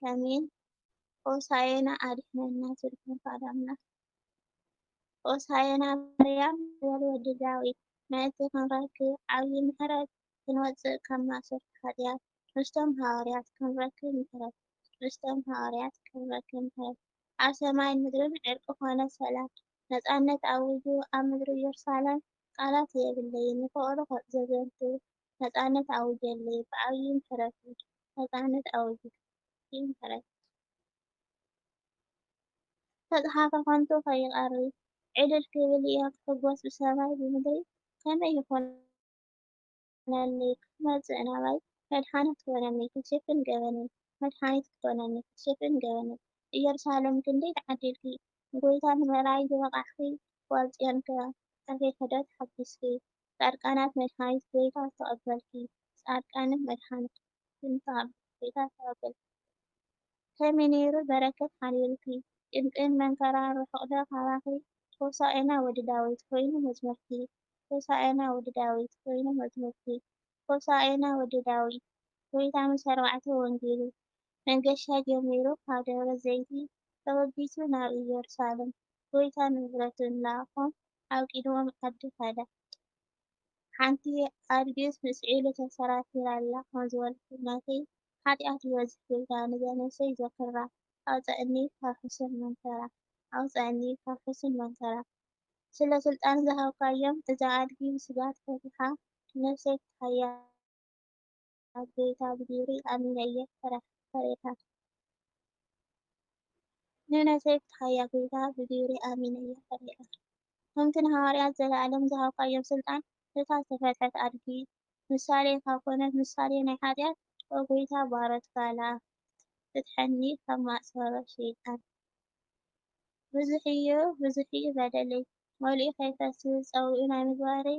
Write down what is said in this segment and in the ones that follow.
ኣሜን ሆሳየና ኣድሕነና ስልኩም ቃል ኣምላክ ሆሳየና ማርያም ዝበል ወዲ ዳዊት ምእንቲ ክንረክብ ዓብዪ ምሕረት ክንወፅእ ካብ ማእሰርቲ ሓጢኣት ምስቶም ሃዋርያት ክንረክብ ምሕረት ምስቶም ሃዋርያት ክንረክብ ምሕረት ኣብ ሰማይ ምድርን ዕርቂ ኮነ ሰላም ነፃነት ኣውጁ ኣብ ምድሪ ኢየሩሳሌም ቃላት የብለይን ንፍቕሩ ዘዘንቱ ነጻነት ኣውጀለይ ብዓብዪ ምሕረትኪ ነጻነት ኣውጅ ብዓብዪ ምሕረትኪ። ዝተጽሓፈ ከንቱ ከይቐሪ ዕልል ክብል እየ ክሕጎስ ብሰማይ ብምድሪ ከመይ ይኹነለይ ክትመጽእ ናባይ መድሓኒ ክትኮነኒ ክትሽፍን ገበነይ መድሓኒት ክትኮነኒ ክትሽፍን ገበነይ እየሩሳሌም ክንደይ ተዓዲልኪ ንጎይታ ንምርኣይ ዝበቓዕኪ ጓል ጽዮንከ ጠፊሕኪ ዶ ተሓጊስኪ ጻድቃናት መድሃኒት ጎይታ ዝተቀበልኪ ጻድቃንን መድሃኒት ትምጻእ ጎይታ ዝተቀበልኪ ከመይ ነይሩ በረከት ሓዲሩኪ ጭንቅን መንከራን ርሑቅ ዶ ካባኺ ሆሳእና ወዲ ዳዊት ኮይኑ መዝሙርኪ ሆሳእና ወዲ ዳዊት ኮይኑ መዝሙርኪ ሆሳእና ወዲ ዳዊት ጎይታ ምስ ኣርባዕተ ወንጌሉ መንገሻ ጀሚሩ ካብ ደብረ ዘይቲ ተበጊሱ ናብ ኢየሩሳሌም ጎይታ ንብረቱ እናኣኾም ኣብ ቂድሞም ዓዲ ከደ። ሓንቲ ኣድጊስ ምስ ዒሉ ተሰራቲራ ኣላ ከም ዝበልኩ ናተይ ሓጥያት ይበዝሕ ኢልካ ንዛ ነብሰይ ዘክራ ኣውጸኣኒ ካብ ሕሱር መንከራ ኣውጸኣኒ ካብ ሕሱር መንከራ ስለ ስልጣን ዝሃብካዮም እዛ ኣድጊ ብስግኣት ፈቲሓ ነብሰይ ክትሃያ ኣብ ጎይታ ብግብሪ ኣሚነ እየ ፈርየካ። ንእምነተይ ፍትሓያ ጎይታ ብግብሪ ኣሚነ እየ ፈርየካ። ከምቲ ንሃዋርያት ዘለኣለም ዝሃብካዮም ስልጣን እታ ዝተፈትሐት ኣድጊ ምሳሌካ ኮነት ምሳሌ ናይ ሓጢኣት ኦ ጎይታ ባሮት ጋላ ፍትሐኒ ካብ ማእሰሮ ሸይጣን። ብዙሕዩ ብዙሕዩ በደለይ መሊኡ ከይፈስስ ጸዊዑ ናይ ምግባረይ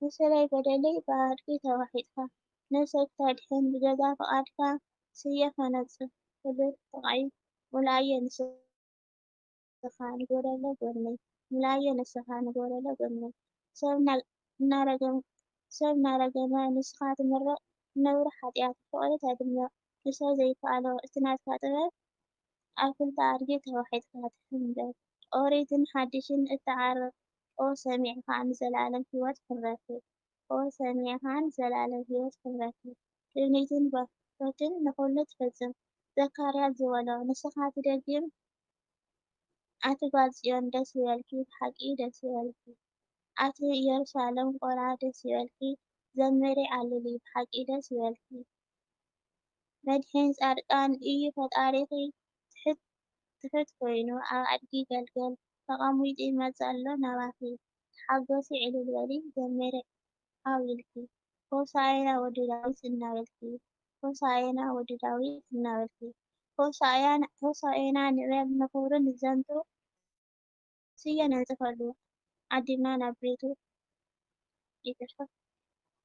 ብሰበይ በደለይ ብኣድጊ ተዋሒጥካ ነብሰይ ክተድሕን ብገዛእ ፍቓድካ ስየ ከነጽፍ ክብል ጥቓይ ሙሉኣየ ንስኻ ንጎደሎ ጎድነይ ሙሉኣየ ንስኻ ንጎደሎ ጎድነይ ሰብ እናረገመ ንስኻ ትምርቕ ነውሪ ሓጥያት ፍቕሪ ተድምቕ ንሰብ ዘይከኣሎ እቲ ናትካ ጥበብ ኣብ ክልተ ኣድጊ ተዋሒጥካ ትሕንበብ። ኦሪትን ሓዲሽን እትዓርቕ ኦ ሰሚዕካ ንዘለኣለም ህይወት ክንረክብ ኦ ሰሚዕካ ንዘለኣለም ህይወት ክንረክብ ትምኒትን ባርኮትን ንኹሉ ትፍጽም ዘካርያስ ዝበሎ ንስኻ ትደግም ኣቲ ጓል ጽዮን ደስ ይበልኪ ብሓቂ ደስ ይበልኪ ኣቲ ኢየሩሳለም ቆልዓ ደስ ይበልኪ ዘምሪ ዓልሊ ብሓቂ ደስ ይበልኪ መድሕን ፃድቃን እዩ ፈጣሪኺ ትሕት ትሕት ኮይኑ ኣብ ኣድጊ ገልገል ተቀሚጡ ይመፅእ ኣሎ ናባኺ ተሓጎሲ ዕልል በሊ ዘሚሪ ዓው ኢልኪ ሆሳእየና ወዲ ዳዊት እናበልኪ ሆሳእየና ወዲ ዳዊት እናበልኪ ሆሳእየና ንበል ንኽብሩ ንዘንቱ ስየ ነንጽፈሉ ዓዲምና ናብ ቤቱ ይቅርታ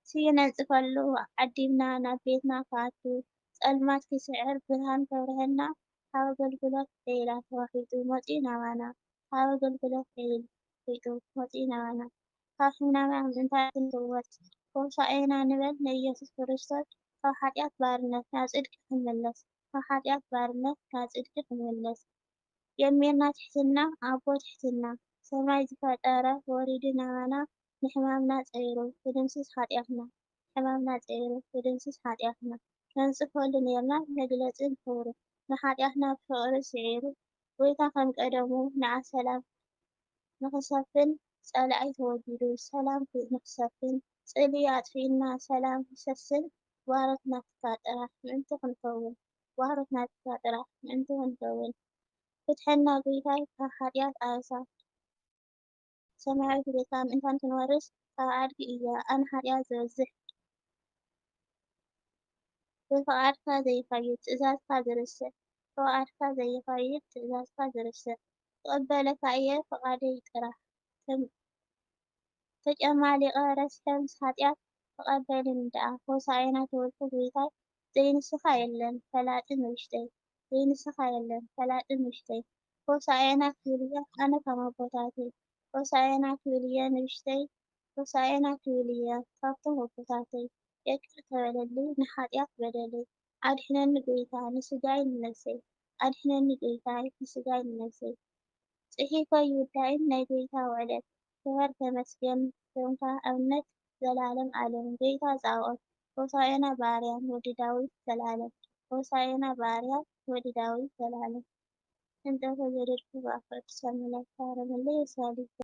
ስየ ነንጽፈሉ ዓዲምና ናብ ቤትና ክኣቱ ጸልማት ክስዕር ብርሃን ከብርሀና ካብ ኣገልግሎት ዒላ ተዋሒጡ መጺኡ ናባና ካብ ኣገልግሎት ዒል ሒጡ መጺኡ ናባና ካብ ሕማምና ምእንታ ክንፍወስ ሆሳኤና ንበል ንኢየሱስ ክርስቶስ ካብ ሓጢኣት ባርነት ናብ ጽድቂ ክንምለስ ካብ ሓጢኣት ባርነት ናብ ጽድቂ ክንምለስ ጀሚርና ትሕትና ኣቦ ትሕትና ሰማይ ዝፈጠረ ወሪዱ ናባና ንሕማምና ጸይሩ ክድምስስ ሓጥያትና ንሕማምና ጸይሩ ክድምስስ ሓጥያትና ከንጽፈሉ ኔርና መግለጺ ንኽብሩ ንሓጥያትና ብፍቕሪ ስዒሩ ጎይታ ከም ቀደሙ ንዓ ሰላም ንኽሰፍን ጸላኢ ተወጊዱ ሰላም ንኽሰፍን ጽልኢ ኣጥፊእና ሰላም ይሰስን ባሮት ናትካ ጥራሕ ምእንቲ ክንከውን ዋህሮት ናትካ ጥራሕ ምእንቲ ክንከውን ፍትሐና ጉይታይ ካብ ሓጥያት ኣሳ ሰማያዊት ቤትካ ምእንታን ክንወርስ ካብ ኣድጊ እያ ኣነ ሓጥያት ዝበዝሕ ብፍቃድካ ዘይከይድ ትእዛዝካ ዝርስዕ ብፍቃድካ ዘይከይድ ትእዛዝካ ዝርስዕ ክቅበለካ እየ ፍቃደይ ጥራሕ ተጨማሊቐ ረስሐምስ ኃጢኣት ተቐበልን ደኣ ሆሣእና ተወልደ ጐይታይ ዘይንስሓ የለን ፈላጢ ንውሽጠይ ዘይንስሓ የለን ፈላጢ ንውሽጠይ ሆሣእና ክብል'የ ኣነ ከም ኣቦታተይ ሆሣእና ክብል'የ ንውሽጠይ ሆሣእና ክብል'የ ካብቶም ኣቦታተይ የቅር ተበለለይ ንኃጢኣት በደለይ ኣድሕነኒ ጎይታ ንስጋይ ንነብሰይ ኣድሕነኒ ጎይታይ ንስጋይ ንነብሰይ ጽሒፈ ኣይውዳእን ናይ ጎይታ ውዕለት ክበር ተመስገን ኮንካ ኣብነት ዘልኣለም ኣለም ጎይታ ጻኦት ሆሳኤና ብኣርያም ወዲ ዳዊት ዘልኣለም ሆሳኤና ብኣርያም ወዲ ዳዊት ዘልኣለም እንጠፈ ዘደድኩ ብኣፍረድ ሰምለ ታረምለይ የሳሊ።